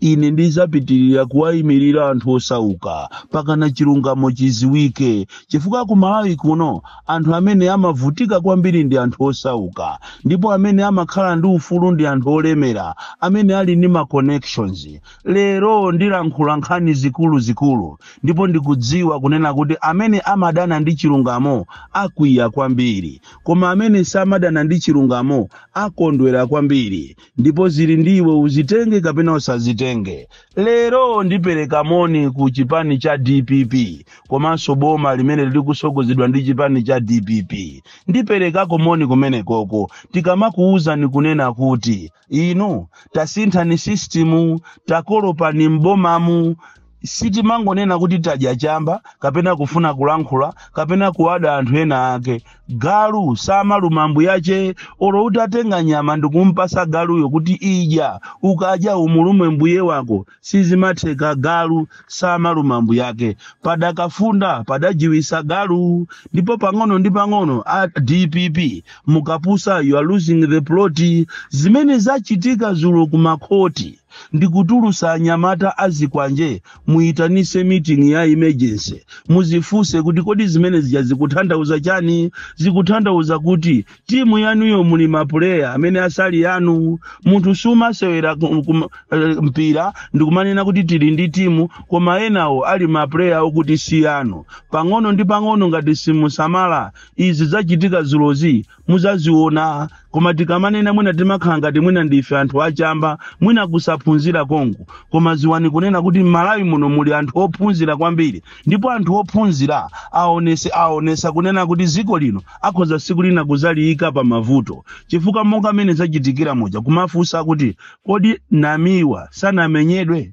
ine ndidzapitirira kuwayimirira anthu osauka mpakana chilungamo chiziwike chifukwa ku malawi kuno anthu amene amavutika kwambiri ndi anthu osauka ndipo amene amakhala ndi ufulu ndi anthu olemera amene ali ndi ma connections lero ndilankhula nkhani zikuluzikulu ndipo ndikudziwa kunena kuti amene amadana ndi chilungamo akwiya kwambiri koma amene samadana ndi chilungamo akondwera kwambiri ndipo zili ndi iwe udzitenge kapena usazitenge lero ndipereka moni ku chipani cha dpp komanso boma limene likusogozedwa ndi chipani cha dpp ndiperekako moni kumenekoko tikamakuwuzani kunena kuti inu tasinthani sistimu takolopani m'bomamu Sitimangonena kuti tadya chamba kapena kufuna kulankhula kapena kuwada anthu ena ake. Galu samaluma mbuyache olo utatenga nyama ndikumpasa galuyo kuti idya, ukadya umulume mbuye wako sizimatheka galu samaluma mbuyake. Padakafunda padajiwisa galu ndipo pang'ono ndi pang'ono a dpp mukapusa you are losing the plot. Zimene zachitika zulo kumakhoti. ndikutulusa anyamata azikwanje muyitanise meeting ya emergency muzifuse kuti kodi zimene zija zikuthandauza chani zikuthandauza kuti timu yanuyo muli mapuleya amene asali yanu munthu sumasewera ku- kum- eh, mpira ndikumanena kuti tili ndi timu koma enawo ali mapuleya okuti si yanu pang'ono ndi pang'ono ngati simusamala izi zachitika zulozi muzaziona koma tikamanena mwina timakhala ngati mwina ndife anthu achamba mwina kusaphunzira kongo koma ziwani kunena kuti m'malawi muno muli anthu ophunzira kwambiri ndipo anthu ophunzira aonese aonesa kunena kuti ziko lino akhoza siku lina kuzaliyika pa mavuto chifukwa monga mmene zachitikira muja kumafunsa kuti kodi namiwa sanamenyedwe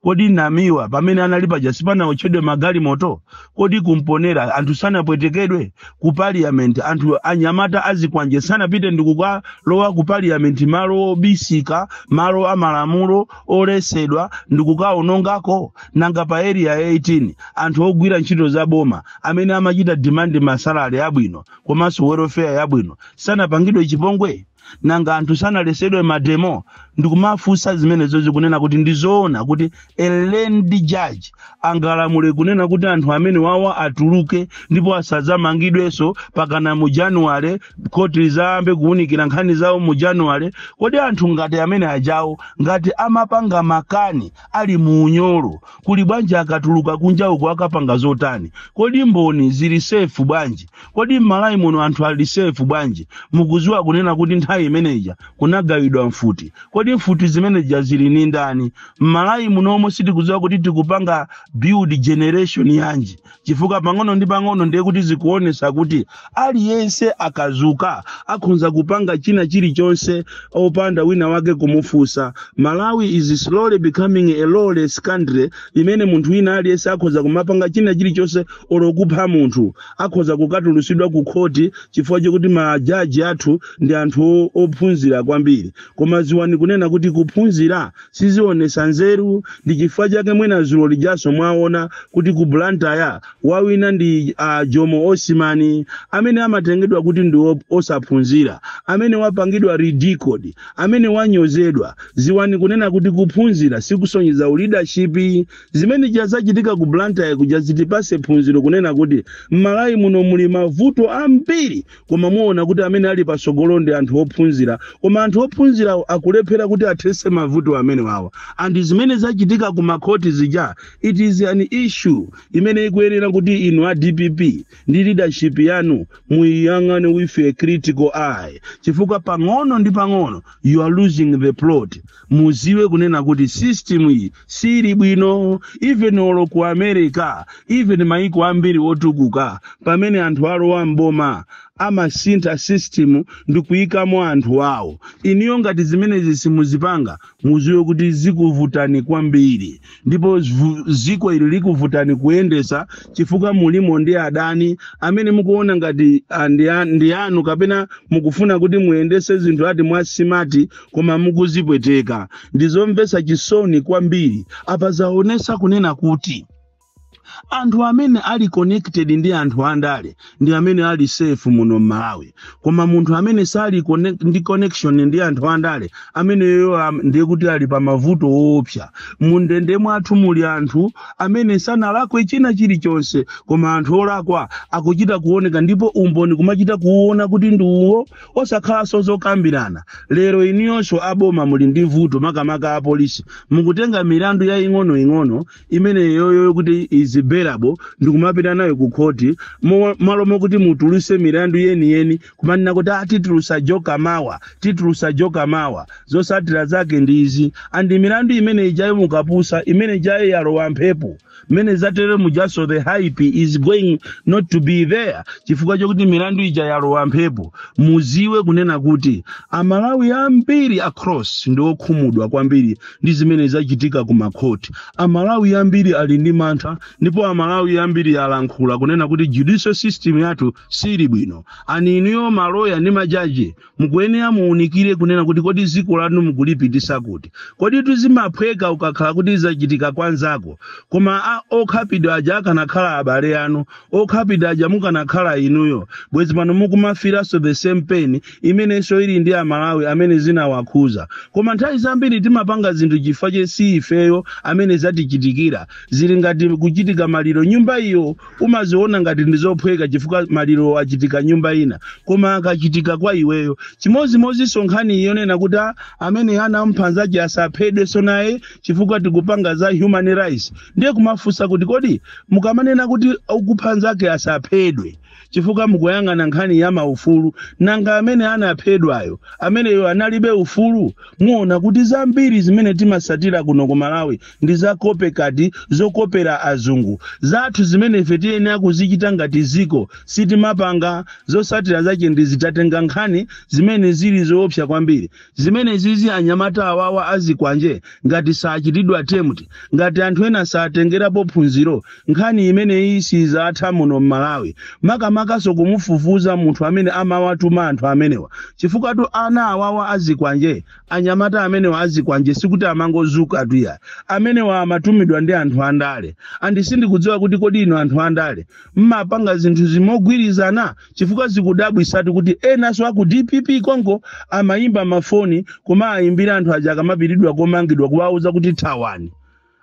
kodi namiwa pamene anali paja sipanawotchedwe magalimoto kodi ku mponela anthu sanapwetekedwe ku parliament anthu anyamata azikwanje sanapite ndikukalowa ku parliament malo obisika malo amalamulo olesedwa ndikukaonongako nanga pa area 18 anthu ogwira ntchito za boma amene amachita demand masalari abwino komanso welfare yabwino sanapangidwe chipongwe nanga anthu sanalesedwe mademo ndikumafunsa zimenezo kunena kuti ndizoona kuti a learned judge angalamule kunena kuti anthu amene wawa atuluke ndipo asadzamangidwenso pakana mu januwale khoti lizayambe kuwunikira nkhani zawo mu januwale kodi anthu ngati amene ajawo ngati amapanga makani ali mu unyolo kuli bwanji akatuluka kunja kuno akapanga zotani kodi mboni zili sefu bwanji kodi m'malawi muno anthu ali safe bwanji mukuziwa kunena kuti nthawi imeneja kunagawidwa mfuti kodi mfuti zimeneja zili ni ndani m'malawi munomo sitikuziwa kuti tikupanga build generation yanji chifukwa pang'ono ndi pang'ono ndiye kuti zikuonesa kuti aliyense akazuka akhonza kupanga china chilichonse opanda wina wake kumufusa malawi is slowly becoming a lawless country imene munthu wina aliyense akhonza kumapanga china chilichonse olo kupha munthu akhoza kukatulusidwa ku khoti chifukwa chokuti majaji athu ndi anthu o- ophunzira kwambiri koma ziwani kunena kuti kuphunzira sizionesa nzeru ndi chifukwa chake mwina zulo lijaso mwaona kuti ku blantyre wawina ndi uh, jomo Osman amene amatengedwa kuti ndi op- osaphunzira amene wapangidwa ridiculed amene wanyozedwa ziwani kunena kuti kuphunzira sikusonyeza uleadership Zimene zija zachitika ku Blantyre kuja zitipase phunziro kunena kuti m'Malawi muno muli mavuto ambiri koma muona kuti amene ali patsogolo ndi anthu ophunzira koma anthu ophunzirawo akulephera kuti athese mavuto amene wawa and zimene zachitika ku makhoti zija it is an issue imene ikuyenera kuti inu a DPP ndi leadership yanu muiyang'ane with a critical eye chifukwa pang'ono ndi pang'ono you are losing the plot muziwe kunena kuti system iyi sili bwino even olo ku america even maiko ambiri otukuka pamene anthu alowa mboma amasintha system ndi kuyikamo anthu awo iniyo ngati zimenezi simuzipanga muziwe kuti zikuvutani kwambiri ndipo zvu- ziko ili likuvutani kuyendesa chifukwa mulimo ndi adani amene mukuona ngati ah, ndi a- ndi anu kapena mukufuna kuti muyendese zinthu ati mwa smart koma mukuzipweteka ndizomvesa chisoni kwambiri apa zaonesa kunena kuti anthu amene ali connected ndi anthu andale ndi amene ali safe muno m'malawi koma munthu amene sali connect, ndi connection ndi anthu andale ameneyoyo am- ndiye kuti ali pa mavuto oopsa mundende mwathu muli anthu amene sanalakwe china chilichonse koma anthu olakwa akuchita kuoneka ndipo umboni kumachita kuuona kuti ndi uwo Osakhalanso zokambirana lero inuyonso a boma muli ndi vuto makamaka a polisi mukutenga milandu yaing'onoing'ono imeneyoyo kuti is bailable ndikumapita nayo ku khoti mo- malo mokuti mutuluse milandu yeniyeni kumanena kuti ah titulusa joka mawa titulusa joka mawa zosatira zake ndi izi and milandu imene ijayo mukapusa imene ijayo yalowa mphepo mmene zatere mujanso the hype is going not to be there chifukwa chokuti milandu ija yalowa mphepo muziwe kunena kuti amalawi ambiri across ndi okhumudwa kwambiri ndi zimene zachitika ku makhoti amalawi ambiri ali ndi mantha ndipo amalawi ambiri alankhula kunena kuti judicial system yathu sili bwino ani inuyo maloya ndi majaji mukuyenera muunikire kunena kuti kodi dziko lanu mukulipitisa kuti kodi tu zimaphweka ukakhala kuti zachitika kwa nzako koma okhapidwa aja akanakhala abale anu okhapidwa aja mukanakhala inuyo bwezi pano mukumafiranso the same pain imenenso ili ndi amalawi amene zinawakhuza koma nthawi zambiri timapanga zinthu chifukwa che si ifeyo amene zatichitikira zili ngati kuchitika maliro nyumba iyo umaziona ngati ndi zophweka chifukwa maliro achitika nyumba ina koma akachitika kwa iweyo chimodzimodzinso nkhani yonena kuti "Ah, amene anamupha nzake asaphedwenso naye chifukwa tikupanga za human rights ndiye umafunsa kuti kodi mukamanena kuti okupha nzake asaphedwe chifukwa mukuyang'ana nkhani ya maufulu nanga amene anaphedwayo ameneyo analibe ufulu muona kuti zambiri zimene timasatira kuno ku malawi ndi za copycat zokopera azungu zathu zimene ife tiyenera kuzichita ngati ziko sitimapanga zosatira zake ndi zitatenga nkhani zimene zili zoopsa kwambiri zimenezizi anyamata awawa azikwanje ngati sachitidwa tamed ngati anthu ena satengerapo phunziro nkhani imeneyi sizatha muno m'malawi makamakanso kumufufuza munthu amene amawatuma anthu amenewa chifukwatu ana awawa azikwanje Anyamata amenewa azikwanje sikuti amangodzukatu iyayi. Amenewa amatumidwa ndi anthu andale. And sindikudziwa kuti kodi inu anthu andale mmapanga zinthuzi mogwirizana chifukwa zikudabwisatu kuti enanso aku DPP konko amayimba mafoni kumawayimbira anthu aja akamapitidwa komangidwa kuwauza kuti thawani.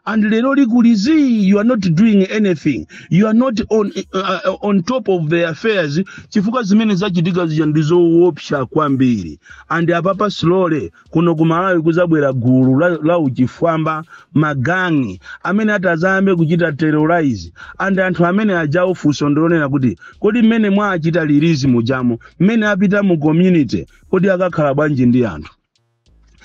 and lero likulizi you are not doing anything you are not on, uh, uh, on top of the affairs chifukwa zimene zachitika zija ndi zoopsa kwambiri and apapa slowly kuno ku malawi kuzabwera gulu la, la uchifwamba magangi amene atazayambe kuchita terrorize and anthu amene aja funso ndi lonena kuti kodi mmene mwawachita release mujamo mmene apita mu community kodi akakhala bwanji ndi anthu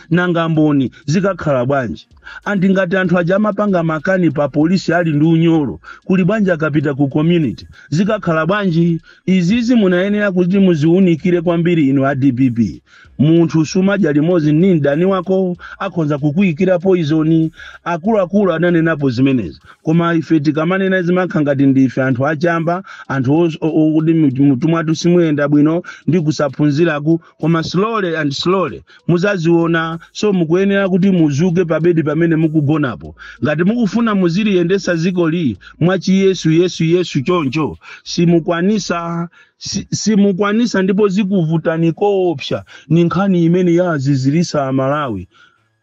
nanga mboni zikakhala bwanji and ngati anthu aja amapanga makani pa polisi ali ndi unyolo kuli bwanji akapita ku community zikakhala bwanji izizi munayenera kuti muziunikire kwambiri inu a dpp munthu sumadya limodzi ndi mdani wako akhonza kukuyikira poizoni akuluakulu ananenapo zimenezi koma ife tikamanena zimakha ngati ndife anthu achamba anthu os- o- o- kuti mutumwathu simuyenda bwino ndi kusaphunziraku koma slowly and slowly muzaziona so mukuyenera kuti muzuke pabedi pamene mukugonapo ngati mukufuna muziliyendesa ziko li mwachiyesu yesu yesu choncho simukwanisa si- simukwanisa ndipo zikuvutani koopsa ni nkhani imene yawazizirisa amalawi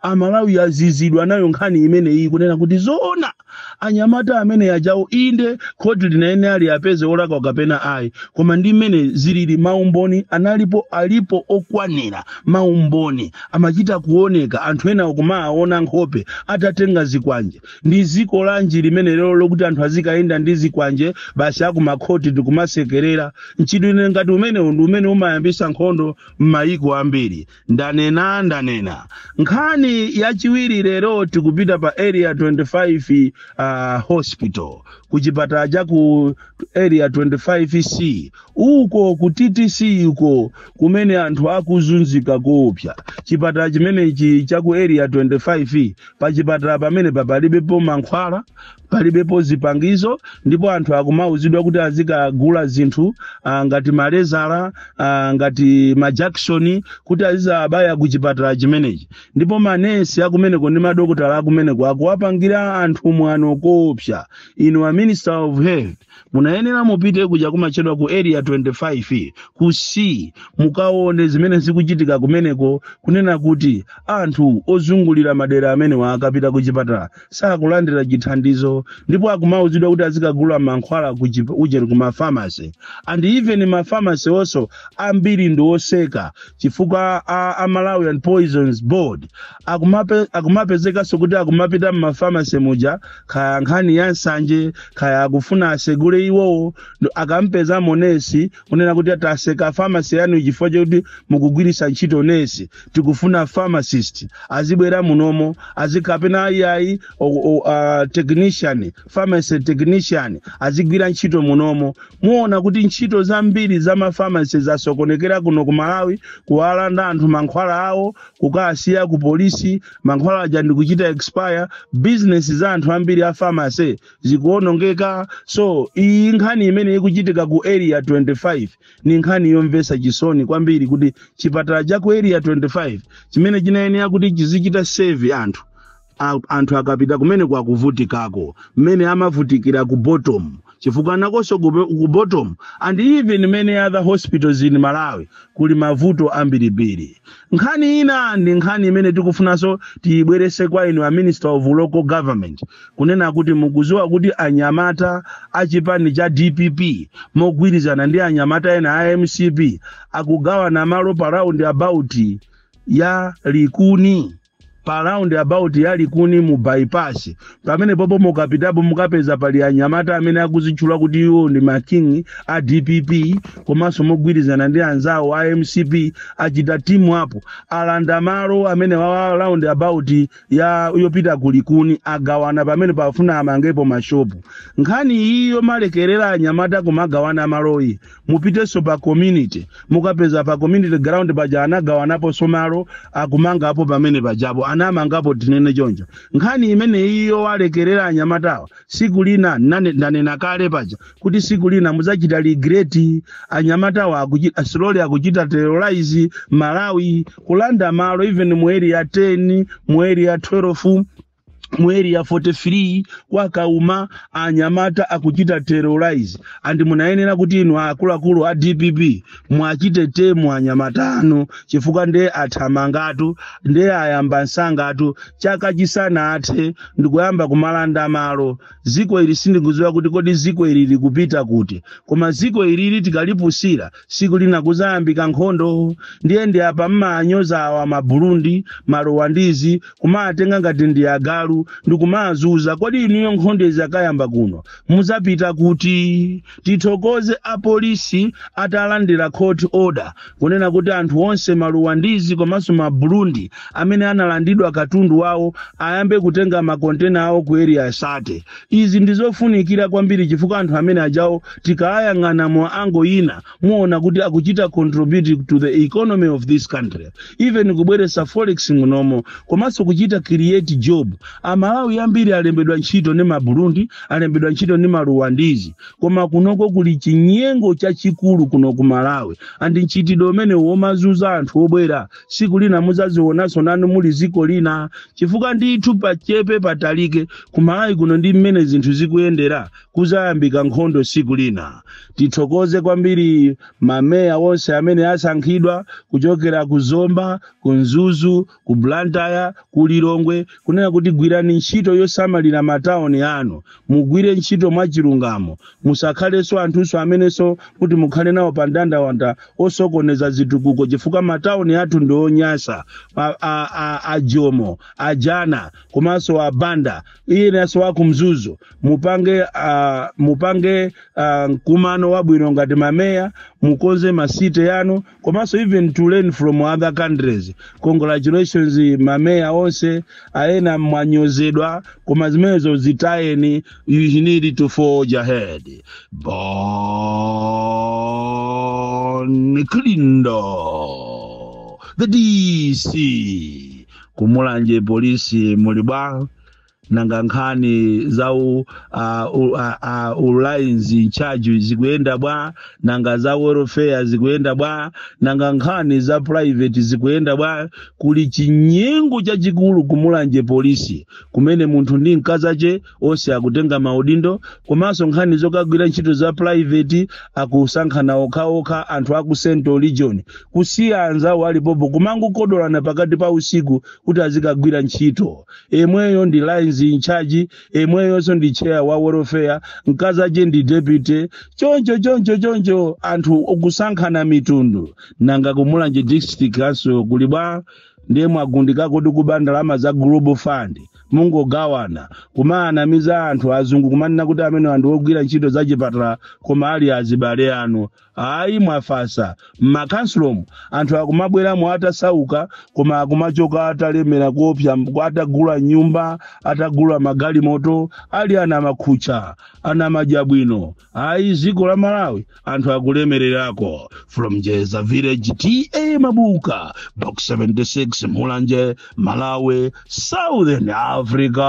amalawi azizidwa nayo nkhani imene iyi kunena kuti zoona anyamata amene ajawo inde khoti linayenera liwapeze olakwa kapena ayi koma ndi mmene zilili maumboni analipo alipo okwanira maumboni amachita kuoneka anthu ena akumawaona nkhope atatenga zikwanje ndi ziko lanji limene lero lokuti anthu azikayenda ndi zikwanje basi akumakhoti ndikumasekerera mchitidwe ngati umenewu ndi umene umayambisa nkhondo m'mayiko ambiri ndanena ndanena nkhani yachiwiri lero tikupita pa area 25 uh, hospital ku chipatala cha ku area 25c uko ku ttc uko kumene anthu akuzunzika koopsa chipatala chimenechi cha ku area 25 pa chipatala pamene palibepo mankhwala palibepo zipangizo ndipo anthu akumauzidwa kuti azikagula zinthu ah, ngati malezala ah, ngati majakisoni kuti azizabaya ku chipatala chimenechi ndipo manesi akumeneko ndi madokotala akumeneko akuwapangira anthu mwano koopsa inu a minister of health munayenera mupite kuja kumatchedwa ku area 25 ku c mukaone zimene zikuchitika kumeneko kunena kuti anthu ozungulira madera amenewa akapita ku chipatala sakulandira chithandizo ndipo akumauzidwa kuti azikagula mankhwala ku chip- ujeni ku mafamasi and even mafamasi wonso ambiri ndi oseka chifukwa a, a malawian poisons board akumape, akumapezekanso kuti akumapita m'mafamasi muja kaya nkhani ya nsanje kaya akufuna asegule iwowo ndo akapezamo nesi kunena kuti taseka famasi yanu chifukwa chakuti mukugwiritsa ntchito nesi tikufuna pharmacist azibwela munomo azikapena ayiayi uh, technician pharmacy technician azigwira ntchito munomo muona kuti ntchito zambiri za mafamasi zasokonekera kuno ku malawi kuwalanda anthu mankhwala awo kukasiya ku polisi mankhwala aja ndikuchita expire business za anthu ambiri a pharmacy zikuonongeka so iyi nkhani imene ikuchitika ku area 25 ni nkhani yomvesa chisoni kwambiri kuti chipatala cha ku area 25 chimene chinayenera kuti chizichita save anthu a, anthu akapita kumeneko akavutikako mmene amavutikira ku bottom chifukwa nakonso ku ku bottom and even many other hospitals in malawi kuli mavuto ambirimbiri nkhani ina ndi nkhani imene tikufunanso tiyibwerese kwa inu a minister of local government kunena kuti mukuziwa kuti anyamata a chipani cha dpp mogwirizana ndi anyamata ena a mcp akugawana malo pa roundabout ya likuni pa roundabout ya likuni mu bypass pamenepopo mukapitapo mukapeza pali anyamata amene akuzitchula kuti iwo ndi ma king a dpp komanso mogwirizana ndi anzawo a mcp achita timu apo alanda malo amenewa a roundabout ya yopita ku likuni agawana pamenepo afuna amangepo mashopu nkhani iyi yomalekerera anyamata kumagawana maloyi mupitenso pa community mukapeza pa community ground paja anagawanaponso malo akumangapo pamene pajapo anamangapo tinene choncho nkhani imeneyi yowalekerera anyamatawa siku lina nane- ndanena kale paja kuti siku lina mudzachita regret anyamatawa slowly akuchita terrorize malawi kulanda malo even mu area 10 mu area 12 mu area 43 kwa kauma anyamata akuchita terrorize and munayenera kuti inu akuluakulu a dpp muwachite tame anyamata anu chifukwa nde athamangatu nde ayamba msangatu chaka chisanathe ndi kuyamba kumalanda malo ziko ili sindikuziwa kuti kodi ziko ili likupita kuti koma ziko ilili tikalipusira siku lina kuzayambika nkhondo ndiye ndi apa mmawanyoza awa maburundi maruwandizi kumawatenga ngati ndi agalu ndi kumawazuza kodi inuyo nkhondo izakayamba kuno muzapita kuti tithokoze apolisi atalandira court order kunena kuti anthu onse maruwandizi komanso maburundi amene analandidwa katundu wawo ayambe kutenga makontena awo ku area 30 izi ndizofunikira kwambiri chifukwa anthu amene ajawo tikayang'ana mu angle ina muona kuti akuchita contribute to the economy of this country even kubweresa forex munomo komanso kuchita create job amalawi ambiri alembedwa ntchito ndi maburundi alembedwa ntchito ndi maruwandizi koma kunoko kuli chinyengo chachikulu kuno ku malawi and mchitidwe umenewo womazuza anthu obwera siku lina muzazionanso nanu muli ziko lina chifukwa ndithu pachepe patalike ku malawi kuno ndi mmene zinthu zikuyendera kuzayambika nkhondo tsiku lina tithokoze kwambiri mameya onse amene asankhidwa kuchokera ku zomba ku mzuzu ku blantyre ku lilongwe kunena kuti gwirani ntchito yosamalira matauni anu mugwire ntchito mwachilungamo musakhalenso anthunso amenenso kuti mukhale nawo pa ndandawanda osokoneza zitukuko chifukwa matauni athu ndi onyasa a- a- a- a jomo a jana komanso a banda iyenso wa ku mzuzu mupange uh, mupange uh, mkumano wabwino ngati mameya mukonze masite yanu komanso even to learn from other countries congratulations mameya onse ena mwanyozedwa koma zimenezo zitayeni you need to forge ahead bon kalindo the dc ku mulanje polisi muli bwa nanga nkhani za u, uh, u, uh, uh, ulines in charge zikuyenda bwa nanga za welfare zikuyenda bwa nanga nkhani za private zikuyenda bwa kuli chinyengo chachikulu ku mulanje polisi kumene munthu ndi mkazache onse akutenga maudindo komanso nkhani zokagwira ntchito za private akusankhana okhaokha anthu aku central region kusiya anzawo alipopo kumangokodolana pakati pa usiku kuti azikagwira ntchito yemweyo ndi lines in charge yemweyonso ndi chair wa welfare mkazache ndi deputy choncho choncho choncho anthu kusankhana mitundu nanga ku mulanje district council kuli bwa ndiye mwagundika kodi kuba ndalama za global fund mungogawana kumawanamiza anthu azungu kumanena kuti amenewa anthu ogwira ntchito zachipatala koma ali azibale anu Ayi mwafasa m'makansilomu anthu akumabweramo atasauka koma akumachoka atalemera kuopsa mb- atagula nyumba atagula magalimoto ali ana makhutcha ana madyabwino ayi dziko la malawi anthu akulemererako from jeza village ta mabuka box 76 mulanje malawi southern africa